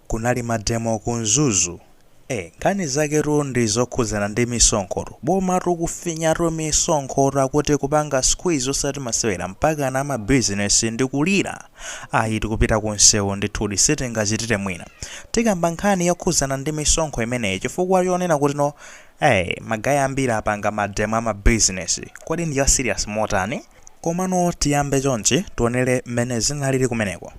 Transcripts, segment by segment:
Kunali ma demo ku mzuzu ee nkhani zaketu ndi zokhudzana ndi misonkhotu bomatu kufinyatu misonkhotu akuti kupanga squeeze osati masewera mpakana ama business ndi kulira ayi tikupita ku msewu ndithudi sitingachitire mwina tikamba nkhani yokhudzana ndi misonkho imeneyi chifukwa chonena kutino ee ma guy ambiri apanga ma demo ama business kodi ndi ya serious motani komano tiyambe chonchi tionere mmene zinalili kumeneko.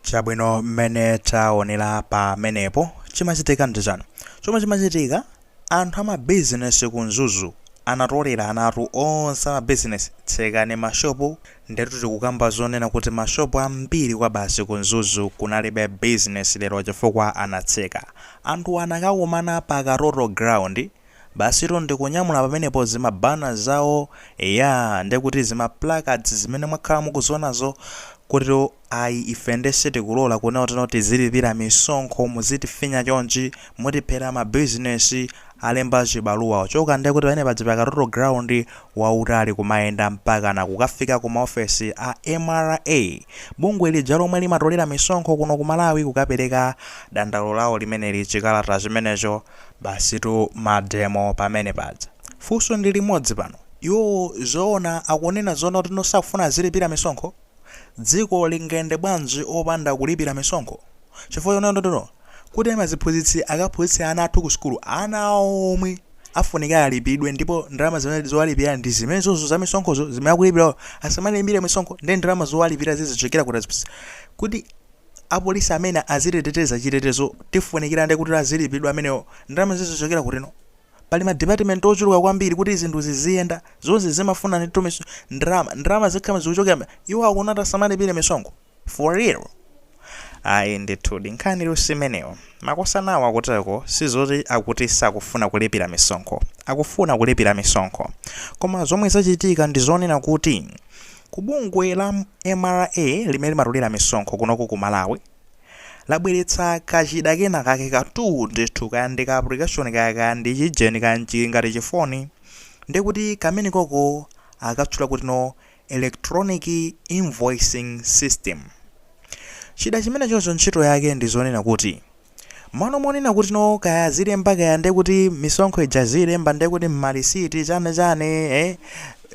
chabwino mmene taonera pamenepo chimachitika ndi chani chomwe chimachitika Anthu amabizinesi ku mzuzu anatoleranatu onse amabizinesi tsekani ma shop ndetu tikukamba zonena kuti ma shop ambiri kwabasi ku mzuzu kunalibe bizinesi lero chifukwa anatseka anthuwa anakakumana pa katoto ground basitu ndikunyamula pamenepo zima banner zawo eya ndekuti zima placards zimene mwakhala mukuzionazo kuti Ayi ife nde sitikulola kunena kuti no tizilipira misonkho muzitifinya chonchi, mutiphera ma business, alemba chibaluwa ochoka nde kuti pamene paja pakatoto ground wautali kumayenda mpakana kukafika ku maofesi a mra, bungwe lija lomwe limatolera misonkho kuno ku Malawi kukapereka dandaulo lawo limeneli chikalata chimenecho. Basitu mademo pamene paja. Funso ndi limodzi pano, iwowo zoona akunena zoona kuti no sakufuna azilipira misonkho? Dziko lingayende bwanji opanda kulipira misonkho? Chifukwa chonena kuti no, kuti maziphunzitsi akaphunzitse ana athu ku sukulu, ana awo omwe afunika alipidwe ndipo ndalama zimene zowalipira ndi zimenezo za misonkhozo zimene akulipirawo asamalipire misonkho nde ndalama zowalipira zizichokera kuti apolisi amene azititeteza chitetezo tifunikira nde kuti azilipidwa amenewo ndalama zizichokera kutino? Pali ma department ochuluka kwambiri kuti zinthu ziziyenda, zonse zimafuna ndithu mis, ndalama, ndalama zikhala zikuchokera mi, iwo akunena kuti asamalipire misonkho? For real? Ayi ndithudi, nkhanitu simeneyo. Makosanawo akuteko sizoti akuti sakufuna kulipira misonkho, akufuna kulipira misonkho. Koma zomwe zachitika ndi zonena kuti ku bungwe la mra limene limatolera misonkho kunoko ku Malawi, labweretsa kachida kena kake ka tuu ndithu kaya ndi ka application kaya kaya ndi chijeni kaya nchili ngati chifoni ndiye kuti kamene koko akatchula kuti no electronic invoicing system chida chimene choncho ntchito yake ndi zonena kuti mano monena kuti no kaya zilemba kaya ndiye kuti misonkho ija zilemba ndiye kuti mmalisiti chane chane eh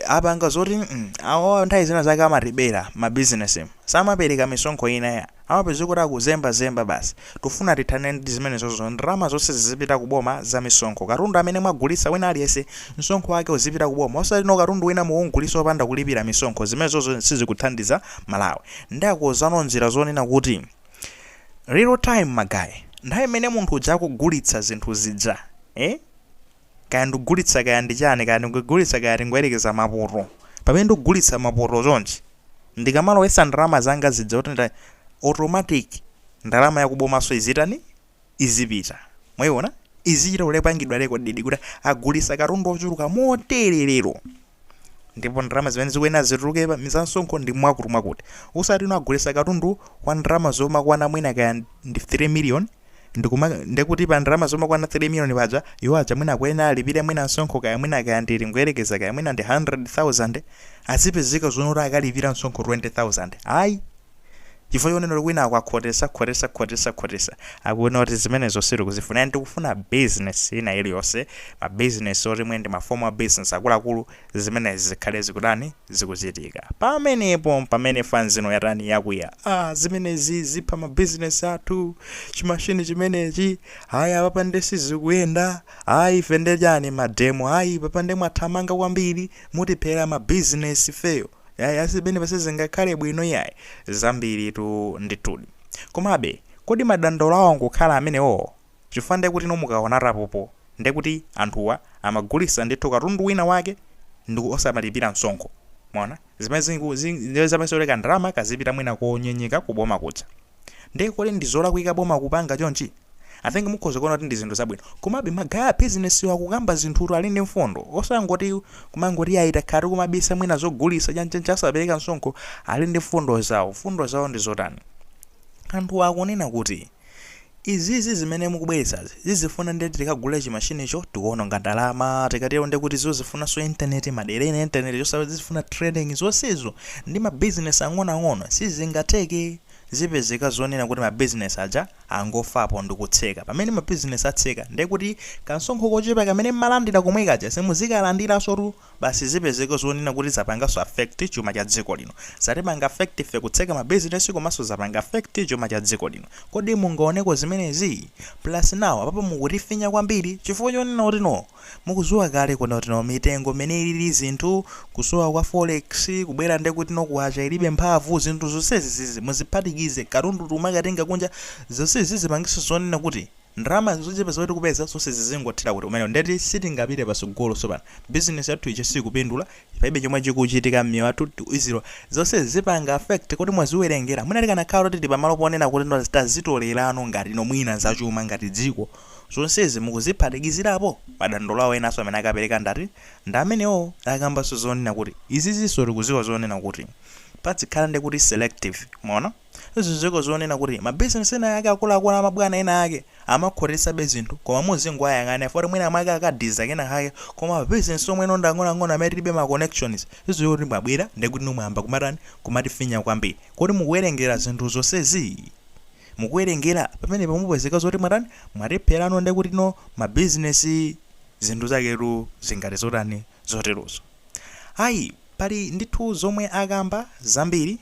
apanga zoti mm, awa nthawi zina zake amatibera ma business mu. samapereka misonkho inayake amapeza kuti akuzemba zemba basi tufuna tithane ndi zimenezozo ndalama zonse zizipita ku boma za misonkho katundu amene mwagulitsa wina aliyense msonkho wake uzipita ku boma osati no katundu wina mukugulitsa opanda kulipira misonkho zimenezozo sizikuthandiza malawi ndakonza ano njira zonena kuti real time magayi nthawi imene munthu uja akugulitsa zinthu zija eh? kaya ndikugulitsa kaya ndi chani kaya ndikugulitsa kaya tingoyerekeza mapoto pamene ndikugulitsa mapoto chonchi ndikamalowetsa ndalama zanga zija kuti nda automatic ndalama yakubomaso izitani izipita mwayiona izichita kupangidwa rekodedi kuti agulitsa katundu ochuluka motere lero ndipo ndalama zimene zikuyenera zituluke pa za msonkho ndi mwakuti mwakuti osati ino agulitsa katundu wa ndalama zomakwana mwina kaya ndi 3 million ndikumati ndikuti pa ndalama zomakwana 3 million paja iwo aja mwina akuyenera alipire mwina msonkho kaya mwina kaya tingoyerekeza kaya mwina ndi 100,000 azipezeka zonena kuti akalipira msonkho 20,000 ayi chifukwa chonena kuti kwinako akhotesa khotesa khotesa khotesa akunena kuti zimenezo sitikuzifuna and tikufuna business ina iliyonse ma business oti mwina ndi ma formal business akuluakulu zimenezi zikhale zikutani zikuchitika pamenepo mpamene fanzino yatani yakwiya ah zimenezi zipha ma business athu chimashini chimenechi ayi apapa nde sizikuyenda ayi ife nde chani mademo ayi papa nde mwathamanga kwambiri mutiphera ma business ifeyo Ayi, ayi zimenezi apa sizingakhale bwino iyayi, zambiritu ndithudi. Komabe, kodi madandaulo awo angokhala amenewo? Chifukwa ndiye kuti inu mukaona apopo, ndiye kuti anthuwa amagulitsa ndithu katundu wina wake nde osamalipira msonkho. Mwaona? Zimene zing'ku, zing, ndiye zimasolvela kandalama kazipita mwina konyenyeka kuboma kuja. Ndiye kodi ndi zolakwika boma kupanga chonchi? I think mukhoza kuona kuti ndi zinthu zabwino. Komabe magaye a business wa akukamba zinthutu ali ndi mfundo. Osangoti kumangoti ayi takhala tikumabisa mwina zogulitsa chani chani asapereka msonkho ali ndi mfundo zawo. Mfundo zawo ndi zotani? Anthuwa akunena kuti izizi zimene mukubweretsazi zizifuna ndiye tikagule chimashinicho tikuononga ndalama tikatero ndiye kuti zizifunanso internet madera ena internet ndi yosowa zizifuna training zonsezo ndi ma business ang'onoang'ono sizingatheke. Zipezeka zonena kuti ma business aja angofapo ndikutseka. Pamene ma business atseka ndiye kuti kamsonkho kochepa kamene mmalandira komwe kaja simuzikalandiransotu. Basi zipezeka zonena kuti zapanganso affect chuma cha dziko lino. Zatipanga affect ife kutseka ma business komanso zapanga affect chuma cha dziko lino. Kodi munaoneko zimenezi? Plus now apapa mukutifinya kwambiri chifukwa chonena kuti no. Mukuziwa kale kunena kuti no mitengo mene ilili zinthu, kusowa kwa forex, kubwera ndekuti no kwacha ilibe mphamvu, zinthu zonsezi muziphatikize, katundu tikumakatenga kunja, zonse izi zipangitso zonena kuti ndalama zochepa zimene tikupeza zonse zizingothera kuti kumeneko ndeti sitingapite patsogolo sopano, business yathu ija sikupindula, palibe chomwe chikuchitika mmiyoyo yathu, tiziwe zonse izi zipanga affect kodi mwaziwerengera? Mwina tikanakhala kuti tili pamalo ponena kuti no tazitolerano ngati no mwina zachuma ngati dziko, zonsezi mukuziphatikizirapo madandaulo awo enaso amene akapereka ndati ndi amenewo akambaso zonena kuti iziziso tikuziwa zonena kuti padzikhala nde kuti selective mwaona tiziweko zonena kuti ma business ena ake akuluakulu a mabwana ena ake amakhotetsabe zinthu koma muzingoayang'ana chifukwa choti mwina mwake akadiza kena kake koma ma business omwe no ndi ang'onoang'ono amene tilibe ma connections tiziwe kuti mwabwera ndekuti no mwayamba kumatani kumatifinya kwambiri kodi mukuwerengera zinthu zonsezi? mukuwerengera pamenepa mupezeka zoti mwatani mwatipherano ndekuti no ma business zinthu zaketu zingati zotani zoterozo ayi pali ndithu zomwe akamba zambiri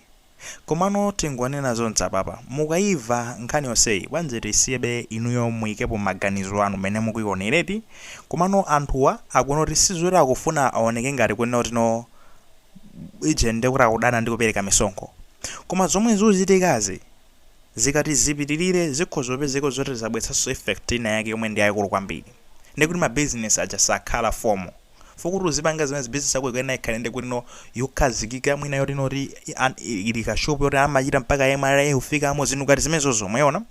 komano tingonena zonse apapa mukaiva nkhani yonseyi bwanji tisiyebe inuyo muikepo maganizo anu mene mukuionereti komano anthuwa akunena kuti sizoti akufuna aoneke ngati kunena kuti no ije ndekuti akudana ndi kupereka misonkho koma zomwe zikuchitikazi Zikati zipitirire zikhoza kupezeka zoti zabweretsanso effect ina yake yomwe ndi yayikulu kwambiri. Ndiye kuti ma business aja sakhala formal. Chifukwa kuti uzipanga zimenezi business yako ikuyenera ikhale ndi kuti no yokhazikika mwina yoti no ti an- i- ili ka shop yoti amachita mpaka MRA kufikamo zinthu ngati zimenezozo mwaiona.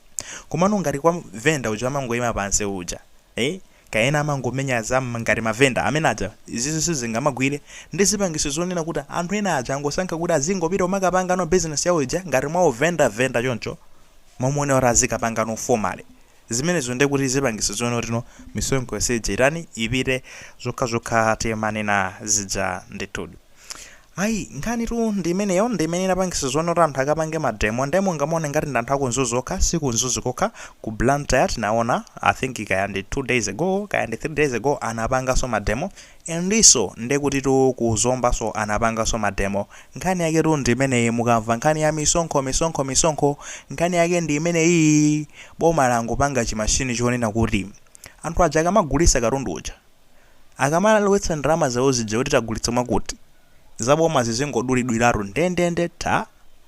Komano ngati kwa vendor uja amangoyima pansi uja. Eh? Kaya ena amangomenya za mm ngati ma vendor amene aja izizi sizingawagwire nde zipangitso zonena kuti anthu ena aja angosankha kuti azingopita kumakapangano business yawo ija ngati mwa u vendor vendor choncho mmalo monena kuti azikapangano formally zimenezo ndiye kuti zipangitso zonena kuti no misonkho yonse ija itani ipite zokhazokha timanena zija ndithudi. Ayi, nkhanitu ndi imeneyo, ndi imene inapangisa zonena kuti anthu akapange mademo, nde mungamaone ngati ndi anthu aku Mzuzu okha, si ku Mzuzu kokha, ku Blantyre tinaona, I think kaya ndi 2 days ago, kaya ndi 3 days ago, anapanganso mademo, endenso ndekutitu ku Zombanso anapanganso mademo, nkhani yaketu ndi imeneyi, mukamva nkhani ya misonkho, misonkho, misonkho, nkhani yake ndi imeneyi, boma langopanga chi machine chonena kuti, anthu aja akamagulisa katundu uja, Akamalowetsa ndalama zawo zija kuti tagulitsa mwakuti, za bomazi zingodulidwiratu ndendende tha!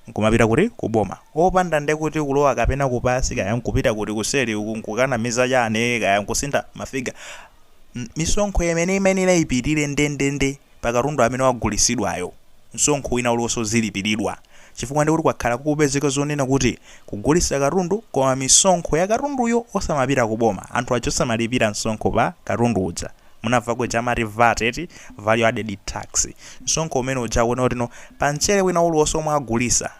Nkumapita kuti? Ku boma. Opanda nde kuti kulowa kapena ku pansi kaya nkupita kuti kuseri uku nkukanamiza chani kaya nkusintha ma figure. Misonkho imene imayenera ipite ndendende. pa katundu amene wagulisidwayo msonkho wina uliwonse uzilipiridwa chifukwa ndekuti kwakhala kukupezeka zonena kuti kugulisa katundu koma misonkho ya katunduyo osamapita ku boma anthu aja osamalipira msonkho pa katundu uja munamvako ija amati vat eti value added tax msonkho umene uja akuona kutino pa mchere wina uliwonse omwe agulisa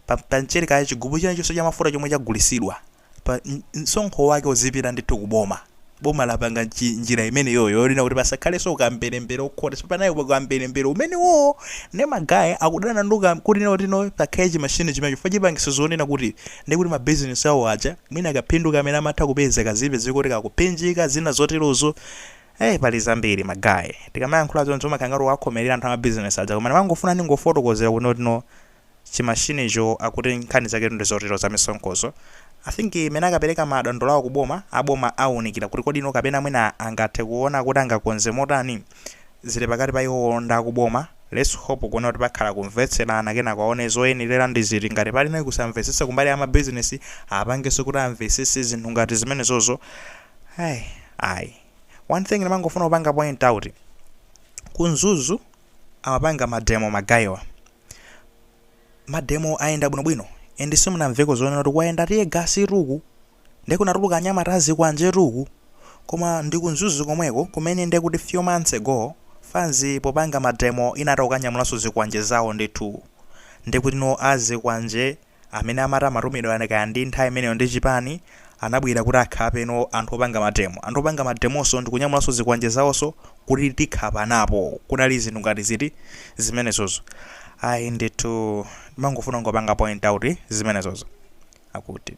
pa, pa mchere kaya chigubu china chilichonse chamafuta chomwe chagulisidwa pa msonkho wake uzipita ndithu ku boma. Boma lapanga nji, njira imeneyoyo yonena kuti pasakhalenso ukamberembere okay. So panali ukamberembere umenewowo ndi ma guy akudana ndi ukam kutino kutino pakhale chimachine chimene chifukwa chipangiso zonena kuti ndi kuti ma business awo aja mwina kaphindu kamene amatha kupeza kazipezeka kuti kakuphinjika zina zoterozo. Eh, pali zambiri ma guy. Tikamayankhula zonse umakhala ngati wakhomerera anthu a ma business aja koma ndimangofuna ndingofotokozera kutino kutino chimachinecho akuti nkhani zake ndizotero za misonkhozo I think mmene akapereka madandaulo awo ku boma a boma awunikira kuti kodi no kapena mwina angathe kuwona kuti angakonze motani zili pakati pa iwowo ndi akuboma let's hope kuona kuti pakhala kumvetserana kenako aone zoyenerera ndi ziti ngati pali no kusamvetsetsa kumbali ya ma business apangenso kuti amvetsetse zinthu ngati zimenezozo hey ayi one thing ndimangofuna kupanga point out ku Mzuzu amapanga ma demo magayiwa mademo ayenda bwinobwino and simunamveko zonena kuti kwayenda tear gas tuku nde kunatuluka anyamata azikwanje tuku koma ndi ku Mzuzu komweko kumene nde kuti few months ago fanzi popanga mademo inatha kukanyamulanso zikwanje zawo ndithu nde kutino azikwanje amene amati amatumidwa kaya ndi nthawi imeneyo ndi chipani, anabwera kuti akhape no anthu opanga mademo. Anthu opanga mademonso ndikunyamulanso zikwanje zawonso kuti tikhapanapo. Kunali zinthu ngati ziti zimenezozo. Ayi ndithu ndimangofuna kungopanga point out zimenezozo. Akuti.